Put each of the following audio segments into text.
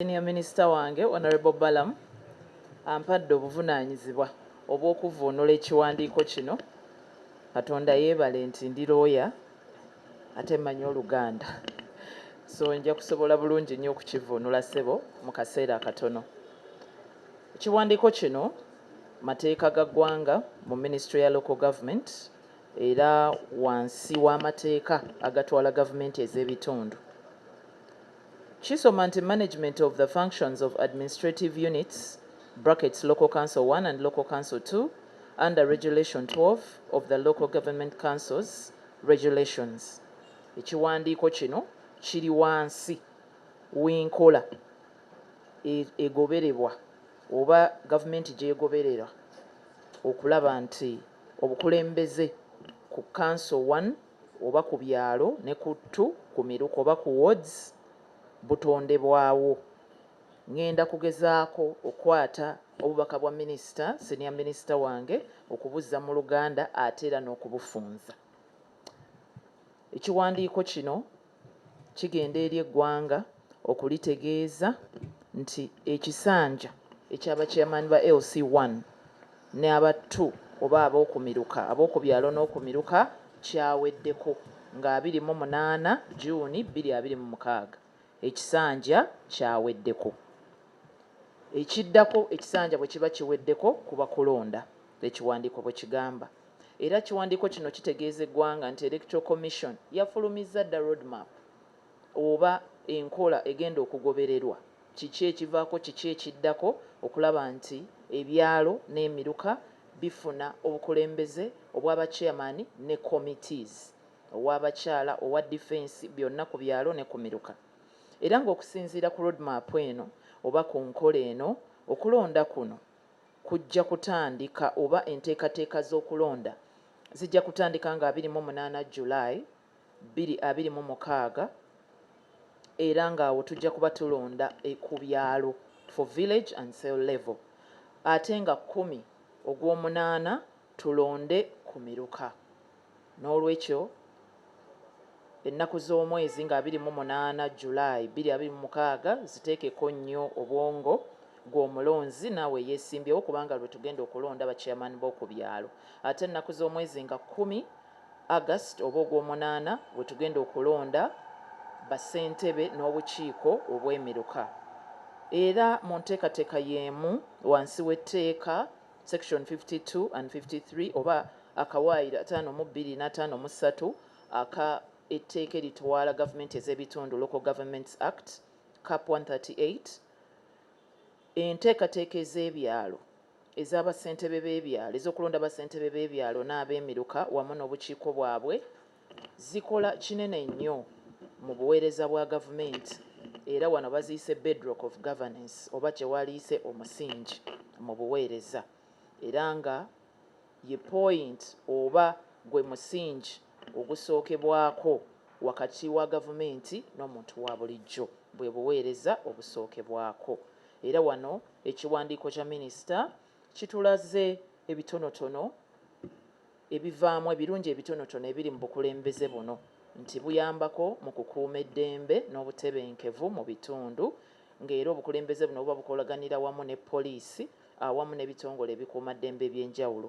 Senior Minister wange Honourable Balaam ampadde obuvunaanyizibwa obw'okuvvuunula ekiwandiiko kino. Katonda yeebale nti ndi looya ate mmanyi Oluganda. So nja kusobola bulungi nnyo okukivvuunula ssebo mu kaseera akatono. Ekiwandiiko kino mateeka ga ggwanga mu Minisitule ya Local Government era wansi w'amateeka agatwala gavumenti ez'ebitundu. Kisoma nti management of the functions of administrative units, brackets Local Council one and Local Council two, under Regulation twelve of the Local Government Councils Regulations, ekiwandiiko kino kiri wansi w'enkola e, egoberebwa oba gavumenti gy'egoberera okulaba nti obukulembeze ku Council one, oba ku byalo ne ku ttu ku miruka oba ku wards butondebwawo. Ngenda kugezaako okukwata obubaka bwa minisita, senior minister, wange okubuzza mu luganda ate era n'okubufunza. Ekiwandiiko kino. kigenda eri eggwanga okulitegeeza nti ekisanja ekya bakiyamaani ba LC one ne aba two oba ab'okumiruka ab'okubyalo n'okumiruka kyaweddeko nga abiri mu munaana June bbiri abiri mu mukaaga ekisanja kyaweddeko. Ekiddako ekisanja bwe kiba kiweddeko kuba kulonda. Ekiwandiiko bwe kigamba. Era ekiwandiiko kino kitegeeza eggwanga nti Electoral Commission yafulumizza dda Road Map oba enkola egenda okugobererwa, kiki ekivaako kiki ekiddako okulaba nti ebyalo n'emiruka bifuna obukulembeze obwa ba Chairman ne Committees, ow'abakyala, owa Defence, byonna ku byalo ne ku miruka. Era ng'okusinziira ku Road Map eno oba ku nkola eno, okulonda kuno. kujja kutandika oba enteekateeka z'okulonda zijja kutandika nga abiri mu munaana July bbiri abiri mu mukaaga era nga awo tujja kuba tulonda ku byalo for village and cell level ate nga kkumi ogw'omunaana tulonde ku miruka. N'olwekyo, ennaku z'omwezi nga abiri mu munaana, July, bbiri abiri mu mukaaga, ziteekeko nnyo obwongo, ggwe omulonzi, naawe eyeesimbyewo, kubanga lwe tugenda okulonda ba chairman b'oku byalo. Ate ennaku z'omwezi nga kkumi, August oba Ogwomunaana, we tugenda okulonda ba ssentebe n'obukiiko obw'emiruka. Era mu nteekateeka y'emu, wansi w'etteeka Section 52 and 53 oba akawaayiro ataano mu bbiri n'ataano mu ssatu aka Etteeka Eritwala Gavumenti ez'Ebitundu, Local Governments Act, Cap. 138, Enteekateeka ez'Ebyalo eza Bassentebe b'Ebyalo, ez'okulonda Bassentebe b'Ebyalo n'Abeemiruka wamu n'Obukiiko bwabwe, Zikola kinene nnyo mu buweereza bwa gavumenti era wano baziyise Bedrock of Governance oba kye waaliyise omusingi mu buweereza era nga ye point oba gwe musingi ogusookebwako wakati wa gavumenti n'omuntu wa bulijjo bwe buweereza obusookebwako era wano ekiwandiiko kya minisita kitulaze ebitonotono Ebivaamu, Ebirungi ebitonotono ebiri mu bukulembeze buno nti buyambako mu kukuuma eddembe n'obutebenkevu mu bitundu nga era obukulembeze buno buba bukolaganira wamu ne poliisi awamu n'ebitongole ebikuuma ddembe eby'enjawulo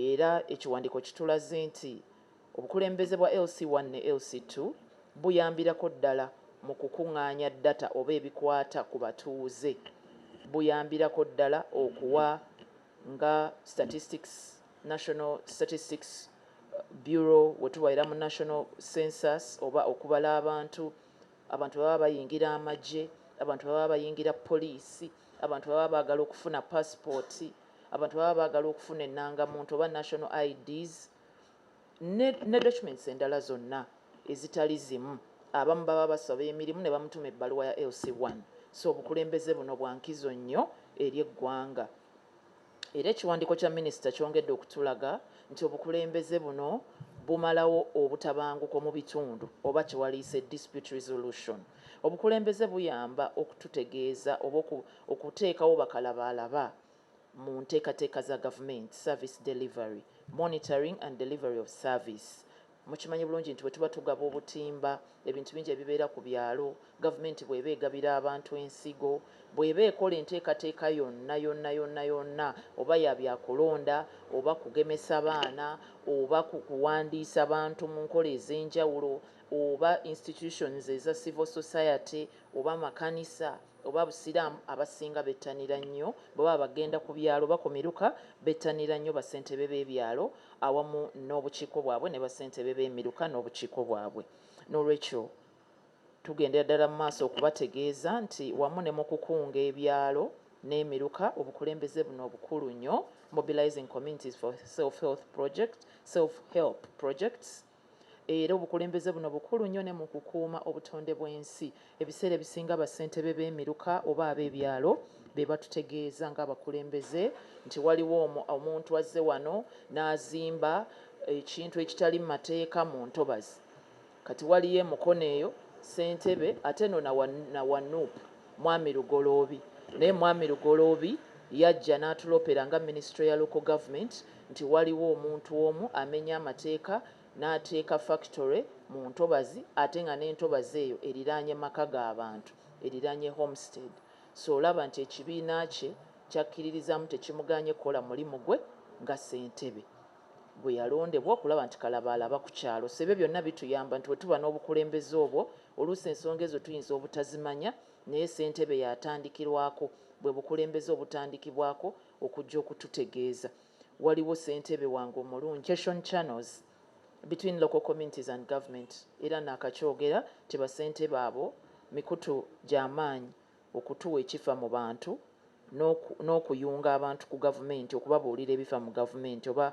era ekiwandiiko kitulaze nti obukulembeze bwa LC one ne LC two buyambirako ddala mu kukungaanya data oba ebikwata ku batuuze buyambirako ddala okuwa nga statistics, National Statistics Bureau, we tuba era mu National Census oba okubala abantu, abantu bwe baba bayingira amagye, abantu bwe baba bayingira poliisi, abantu bwe baba baagala okufuna paasipooti, abantu bwe baba baagala okufuna ennangamuntu oba National IDs. ne ne documents endala zonna ezitali zimu abamu baba basaba emirimu ne bamutuma ebbaluwa ya LC one so obukulembeze buno bwa nkizo nnyo eri eggwanga era ekiwandiiko kya minisita kyongedde okutulaga nti obukulembeze buno bumalawo obutabanguko mu bitundu oba kye waliyise dispute resolution obukulembeze buyamba okututegeeza oba okuteekawo bakalabaalaba mu nteekateeka za gavumenti, service delivery, monitoring and delivery of service. Mukimanyi bulungi nti bwe tuba tugaba obutimba, ebintu bingi ebibeera ku byalo, gavumenti bw'eba egabira abantu ensigo, bw'eba ekola enteekateeka yonna yonna yonna yonna oba ya bya kulonda oba kugemesa baana oba kuwandiisa bantu mu nkola ez'enjawulo oba institutions eza civil society oba makanisa, oba busiraamu abasinga bettanira nnyo bwe baba bagenda ku byalo oba ku miruka bettanira nnyo bassentebe b'ebyalo awamu n'obukiiko bwabwe ne bassentebe b'emiruka n'obukiiko bwabwe n'olwekyo tugendera ddala mu maaso okubategeeza nti wamu ne mu kukunga ebyalo n'emiruka obukulembeze buno obukulu nnyo, mobilizing communities for self health project, self help projects, Era obukulembeze buno bukulu nnyo ne mu kukuuma obutonde bw'ensi. Ebiseera ebisinga bassentebe b'emiruka oba ab'ebyalo be batutegeeza ng'abakulembeze nti waliwo omuntu azze wano n'azimba ekintu ekitali mu mateeka mu ntobazi. Kati waliyo e Mukono eyo, ssentebe, ate no na wa Nup Mwami Lugoloobi. Naye Mwami Lugoloobi yajja n'atulopera nga Minisitule ya Local Government nti waliwo omuntu omu amenya amateeka n'ateeka Factory mu ntobazi ate nga n'entobazi eyo eriraanye maka ga bantu, eriraanye Homestead. So olaba nti ekibiina kye ky'akkiririzaamu tekimugaanye kukola mulimu gwe nga Ssentebe. bwe yalondebwa okulaba nti kalabaalaba ku kyalo. So ebyo byonna bituyamba nti bwe tuba n'obukulembeze obwo, oluusi ensonga ezo tuyinza obutazimanya naye ssentebe y'atandikirwako, bwe bukulembeze obutandikibwako okujja okututegeeza. Waliwo ssentebe wange omulungi. Cation channels between local communities and government era naakakyogera nti bassentebe abo mikutu gya maanyi. okutuwa ekifa mu bantu n'oku, n'okuyunga abantu ku gavumenti, okubabuulira ebifa mu gavumenti, oba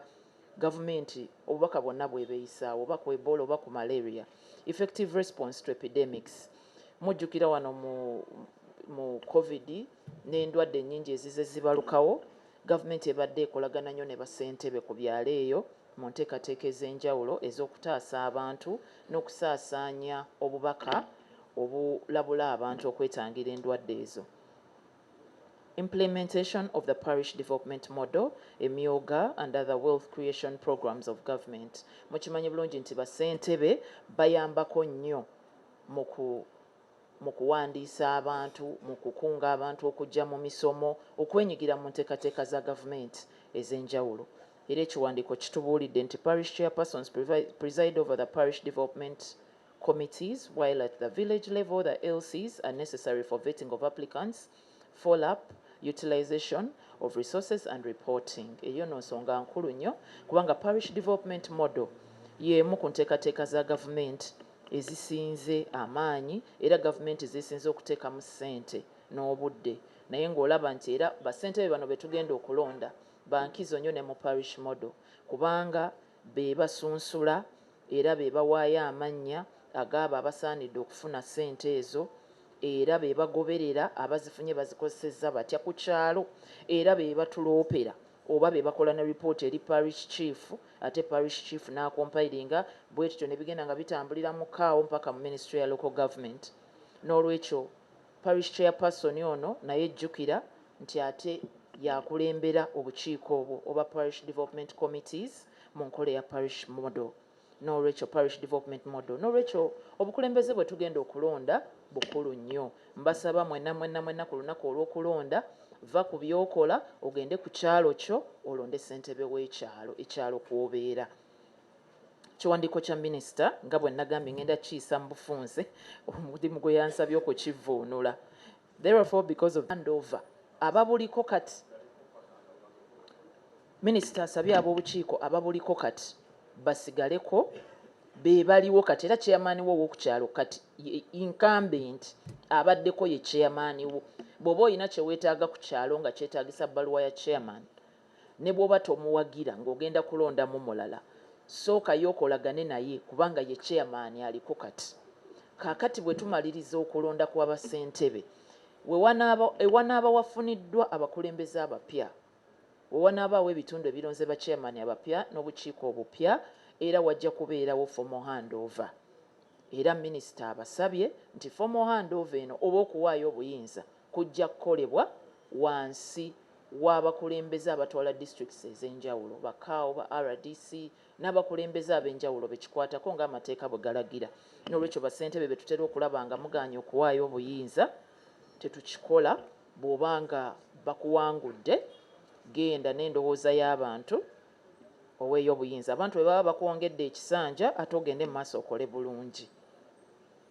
gavumenti obubaka bwonna bw'eba eyisaawo, oba ku Ebola oba ku Malaria, effective response to epidemics. Mujjukira wano mu, mu Covid n'endwadde ennyingi ezizze zibalukawo, gavumenti ebadde ekolagana nnyo ne bassentebe ku byalo eyo mu nteekateeka ez'enjawulo ez'okutaasa abantu n'okusaasaanya obubaka, obulabula abantu okwetangira endwadde ezo. Implementation of the Parish Development Model, Emyooga and other wealth creation programs of government. Mukimanyi bulungi nti basentebe bayambako nnyo mu ku mu kuwandiisa abantu mu kukunga abantu okujja mu misomo okwenyigira mu nteekateeka za gavumenti ez'enjawulo era ekiwandiiko kitubuulidde nti parish chairpersons preside over the parish development committees while at the village level the LCs are necessary for vetting of applicants, follow up, utilisation of resources and reporting. Eyo no nsonga nkulu nnyo kubanga parish development model y'emu ku nteekateeka za gavumenti ezisinze amaanyi era gavumenti zeesinze okuteekamu ssente n'obudde naye ng'olaba nti era basentebe bano be tugenda okulonda bankizo nnyo ne mu parish model kubanga be basunsula era be bawaayo amannya ag'abo abasaanidde okufuna ssente ezo era be bagoberera abazifunye bazikozesezza batya ku kyalo era be batuloopera oba be bakola ne lipooti eri Parish Chief ate Parish Chief n'akompayiringa bwetutyo ne bigenda nga bitambulira mu Kaawo mpaka mu Minisitule ya Local Government n'olwekyo Parish Chairperson ono naye jjukira nti ate y'akulembera obukiiko obwo oba Parish Development Committees mu nkola eya Parish Model n'olwekyo Parish Development Model n'olwekyo obukulembeze bwe tugenda okulonda bukulu nnyo. Mbasaba mwena mwena mwena ku lunaku olw'okulonda vva ku by'okola ogende ku kyalo kyo olonde ssentebe w'ekyalo ekyalo kw'obeera. kiwandiiko kya minisita nga bwe nagambye ngenda kiyisa mu bufunze omulimu gwe yansabye okukivvuunula therefore because of handover ababuliko kati minisita asabye ab'obukiiko ababuliko kati basigaleko be baliwo kati era chairman wo ow'okukyalo kati incumbent abaddeko ye chairman wo bw'oba olina kye weetaaga ku kyalo nga kyetaagisa bbaluwa ya chairman ne bwoba tomuwagira ng'ogenda kulondamu mulala sooka yo okolagane naye kubanga ye chairman aliko kati. Kaakati bwe tumaliriza okulonda kwa ba ssentebe we wanaaba ewanaaba wafuniddwa abakulembeze abapya we wanaabaawo ebitundu ebironze ba chairman abapya n'obukiiko obupya era wajja kubeerawo formal handover era minister abasabye nti formal handover eno oba okuwaayo obuyinza kujja kukolebwa wansi w'abakulembeze abatwala districts ez'enjawulo, ba CAO, ba rdc n'abakulembeze ab'enjawulo bekikwatako nga amateeka bwegalagira. N'olwekyo ba ssentebe betutera okulaba nga mugaanye okuwaayo obuyinza tetukikola. Bwoba nga bakuwangudde genda n'endowooza y'abantu oweeyo obuyinza. Abantu bwebaba bakwongedde ekisanja ate ogende mu maaso okole bulungi.